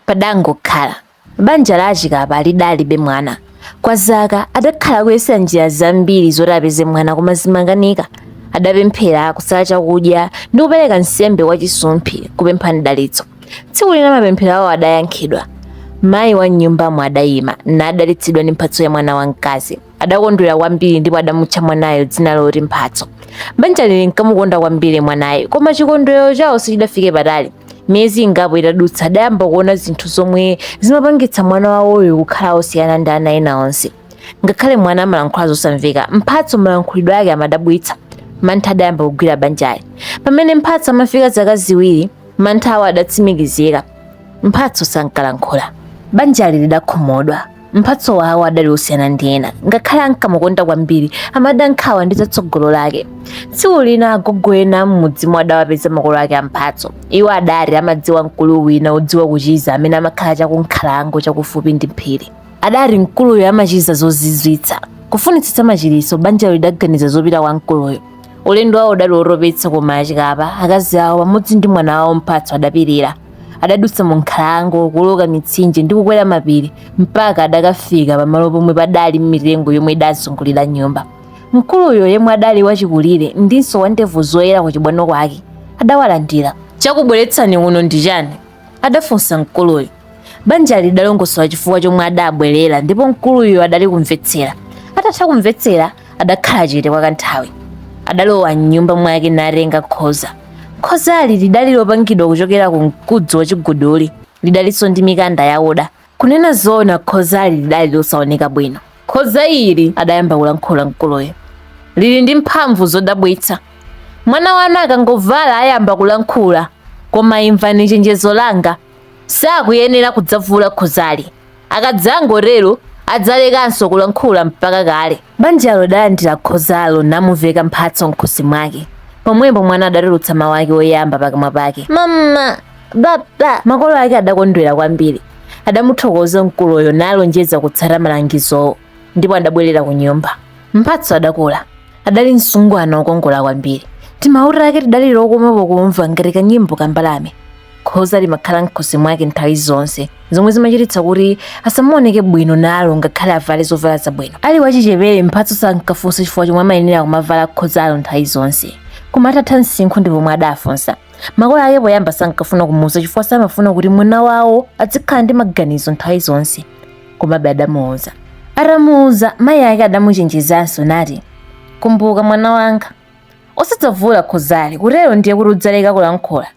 Padangokhala. Banja la a Chikapa lidalibe mwana. Kwa zaka, adakhala akuyesa njira zambiri zoti apeze mwana koma zimakanika. Adapemphera, kusala chakudya, ndi kupereka nsembe kwa Chisumphi kupempha mdalitso. Tsiku lina mapemphero awo adayankhidwa. Mayi wa m'nyumbamo adayima, nadalitsidwa ndi mphatso ya mwana wamkazi. adakondwera kwambiri ndipo adamutcha mwanayo dzina loti mphatso banjali linkamukonda kwambiri mwanayo koma chikondwerero chawo sichidafike patali miyezi ingapo itadutsa adayamba kuona zinthu zomwe zimapangitsa mwana wawoyo kukhala osiyana ndi ana ena onse ngakhale mwana amalankhula zosamveka mphatso malankhulidwe ake amadabwitsa mantha adayamba kugwira banjali pamene mphatso amafika zaka ziwiri mantha awo adatsimikizika mphatso sankalankhula banjali lidakhumudwa Mphatso wawo adali osiyana ndi ena, ngakhale ankamukonda kwambiri, amada nkhawa ndi zatsogolo lake. Tsiku lina agogo ena m'mudzimo adawapeza makolo ake a Mphatso. Iwo adati amadziwa mkulu wina odziwa kuchiza amene amakhala cha kunkhalango chakufupi ndi phiri. Adati mkuluyo amachiza zozizwitsa. Kufunitsitsa machiritso, banjalo lidaganiza zopita kwa mkuluyo. ulendo wawo udali wotopetsa koma achikapa akazi awo pamodzi ndi mwana wawo mphatso adapirira adadutsa mu nkhalango kuloka mitsinje ndi kukwera mapiri mpaka adakafika pamalo pomwe padali mitengo yomwe idazungulira nyumba mkuluyo yemwe adali wachikulire ndinso wandevu zoyera ku chibwano kwake adawalandira chakubweretsani kuno ndi chani adafunsa mkuluyo Banjali lidalongosola chifukwa chomwe adabwerera ndipo mkuluyo adali kumvetsera. Atatha kumvetsera, adakhala chete kwa kanthawi. Adalowa m'nyumba mwake natenga khoza. Khozali lidali lopangidwa kuchokera ku mkuzi wa chiguduli. Lidalinso ndi mikanda yakuda. Kunena zoona khozali lidali losaoneka bwino. Khoza ili, adayamba kulankhula mkuluyo, lili ndi mphamvu zodabwitsa. Mwana wanu akangovala ayamba kulankhula. Koma imvani chenjezo langa, Sakuyenera kudzavula khozali. Akadzangotero adzalekanso kulankhula mpaka kale. Banjalo lidalandira khozalo namuveka mphatso m'khosi mwake. Pomwepo mwana adatulutsa mawu ake oyamba pakamwa pake. Mama! Baba! Makolo ake adakondwera kwambiri. Adamuthokoza mkuluyo nalonjeza kutsata malangizowo. ndipo adabwerera ku nyumba mphatso adakula adali msungwana wokongola kwambiri timawu take tidali tokoma pokumva ngati kanyimbo ka mbalame khoza limakhala mkhosi mwake nthawi zonse zomwe zimachititsa kuti asamaoneke bwino nalo ngakhale avale zovala zabwino ali wachichepere mphatso sankafunsa chifukwa chomwe amayenera kumavala khozalo nthawi zonse koma atatha msinkhu ndi pomwe adafunsa makolo ake poyamba sankafuna kumuuza chifukwa samafuna kuti mwana wawo azikhala ndi maganizo nthawi zonse komabe adamuuza atamuuza mayi ake adamuchenjezanso nati kumbuka mwana wanga osadzavula khozali kutero ndiye kuti udzaleka kulankhula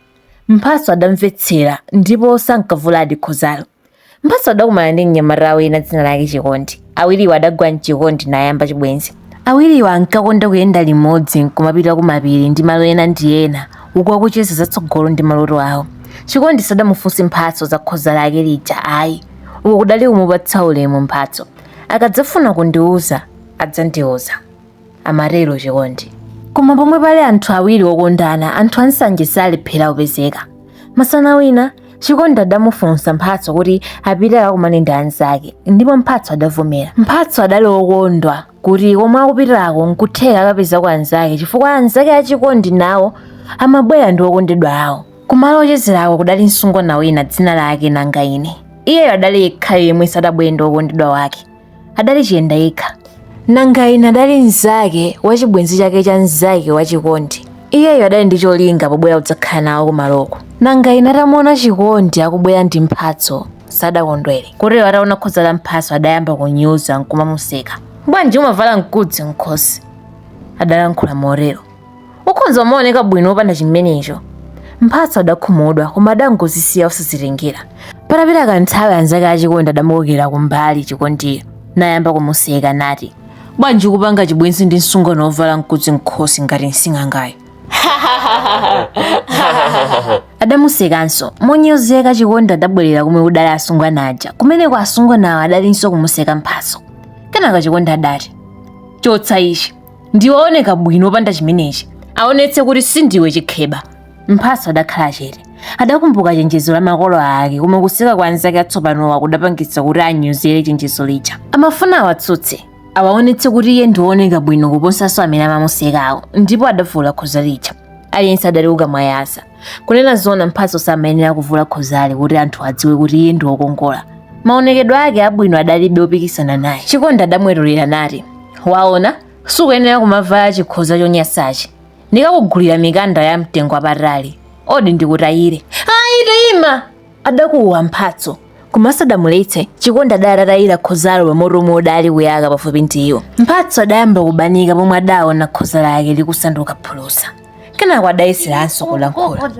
mphatso adamvetsera ndipo sankavuladi khozalo mphatso adakumana ndi mnyamata wina dzina lake chikondi awiriwo adagwa mchikondi nayamba chibwenzi awiriwo ankakonda kuyenda limodzi nkumapita kumapiri ndi malo ena ndi ena uku akucheza zatsogolo ndi maloto awo chikondi sadamufunse mphatso za khoza lake lija ayi uku kudali kumupatsa ulemu mphatso akadzafuna kundiuza adzandiuza amatero chikondi koma pomwe pali anthu awiri okondana anthu ansanje salephera kupezeka masana wina chikondi adamufunsa mphatso kuti apite akakumane ndi anzake ndipo mphatso adavomera mphatso adali okondwa kuti komwe akupitirako nkutheka akapezako anzake chifukwa anzake achikondi nawo amabwera ndi okondedwa awo Kumalo ochezerako kudali msungwana wina dzina lake Nangaine. Iyeyo adali yekhayo yemwe sadabwere ndi wokondedwa wake. Adali chiyenda yekha. Nangaine adali mnzake wa chibwenzi chake cha mnzake wa Chikondi. Iyeyo adali ndi cholinga pobwera kudzakhala nawo kumaloko. Nangaine atamuona Chikondi akubwera ndi mphatso, sadakondwere. Kotero ataona khoza la mphatso adayamba kunyoza nkumamuseka. Bwanji umavala mkudzi mkhosi? Adalankhula motero. ukhonza kumaoneka bwino opanda chimenecho mphatso adakhumudwa koma adangozisiya osazitengera patapita kanthawi anzake achikondi adamukokera kumbali chikondiyo nayamba kumuseka nati bwanji kupanga chibwenzi ndi msungwana wovala mkudzi mkhosi ngati msing'angayo adamusekanso monyozeka chikondi adabwerera komwe kudali asungwana aja kumeneko asungwanawo adalinso kumuseka mphatso kenaka chikondi adati chotsa ichi ndiwe wooneka bwino opanda chimenechi aonetse kuti sindiwe chikheba mphatso adakhala chete adakumbuka chenjezo la makolo ake koma kuseka kwa anzake atsopanowa kudapangitsa kuti anyozere chenjezo lija amafuna awatsutse awaonetse kuti iye ndiwooneka bwino kuposanso amene amamusekawo ndipo adavula khoza lija aliyense adali kukamwayasa kunena zona mphatso samayenera kuvula khozali kuti anthu adziwe kuti iye ndi wokongola maonekedwe ake abwino adalibe opikisana naye chikondi adamwetulira nati waona sukuyenera kumavala chikhoza chonyansachi ndikakugulira mikanda ya mtengo wapatali odi ndikutayire ayi taima adakuwa mphatso koma sadamuletse chikondi adatayira khozalo pamoto omwe udali kuyaka pafupi ndi iwo mphatso adayamba kubanika pomwe adaona khoza lake likusanduka phulusa kenako adayeseranso kulankhula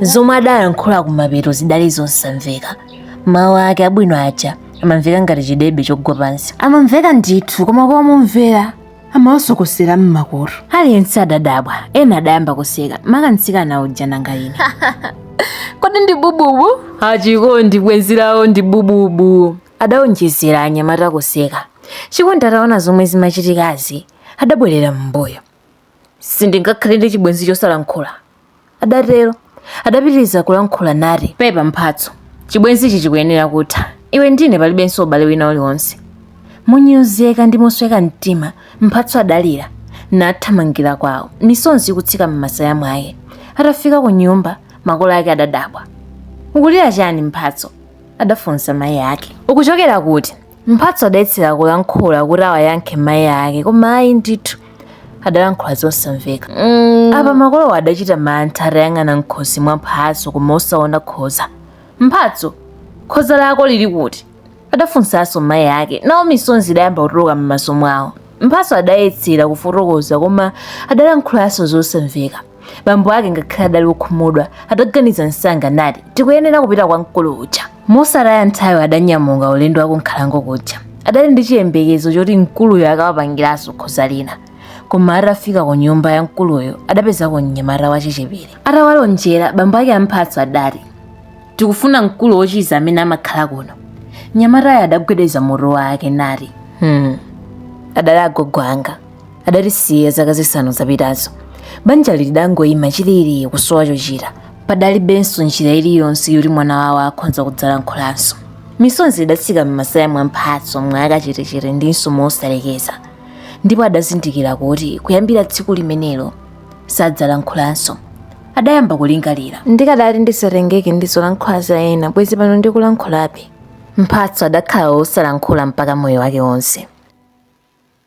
zomwe adalankhula kumapeto zidali zosamveka mawu ake abwino aja amamveka ngati chidebe chogwa pansi amamveka ndithu koma kwa omvera amawasokosera mmakutu aliyense adadabwa ena adayamba kuseka maka mtsikana uja nanga ine kodi ndi bububu achikondi bwenzi lawo ndi bububu adaonjezera anyamatawo kuseka chikondi ataona zomwe zimachitikazi adabwerera m'mbuyo sindingakhale ndi chibwenzi chosalankhula adatero. Adapitiriza kulankhula nati. Pepa Mphatso, chibwenzichi chikuyenera kutha. Iwe ndine palibenso ubale wina uliwonse. Monyozeka ndi mosweka mtima, Mphatso adalira nathamangira kwawo, misonzi ikutsika m'masaya mwake. Atafika ku nyumba, makolo ake adadabwa. Ukulira chani Mphatso? adafunsa mayi ake. Ukuchokera kuti? Mphatso adayesera kulankhula kuti awayankhe mayi ake koma ayi ndithu adalankhula zosamveka. Mm. Apa makolowo adachita mantha atayang'ana m'khosi mwa Mphatso koma osaona khoza. Mphatso, khoza lako lili kuti? adafunsanso mayi ake. Nawo misonzi idayamba kutuluka m'maso mwawo. Mphatso adayesera kufotokoza koma adalankhulanso zosamveka. bambo ake ngakhale adali wokhumudwa adaganiza msanga nati tikuyenera kupita kwa mkulu uja mosataya nthawi adanyamuka ulendo wa ku nkhalango kuja adali ndi chiyembekezo choti mkuluyo akawapangiranso khoza lina koma atafika ku nyumba ya mkuluyo adapezako mnyamata wachichepere atawalonjera bambo ake a mphatso adati tikufuna mkulu wochiza amene amakhala kuno mnyamatayo adagwedeza mutu wake nati hmm. adali agogo anga adatisiya zaka zisanu zapitazo banjali lidangoyima chilili kusowa chochita padalibenso njira iliyonse yoti mwana wawo akhonza kudzalankhulanso misonzi idatsika m'masaya mwa mphatso mwa akachetechete ndinso mosalekeza ndipo adazindikira kuti kuyambira tsiku limenelo sadzalankhulanso adayamba kulingalira ndikadati ndisatengeke ndi zolankhula za ena bwezi pano ndikulankhulabe mphatso adakhala wosalankhula mpaka moyo wake wonse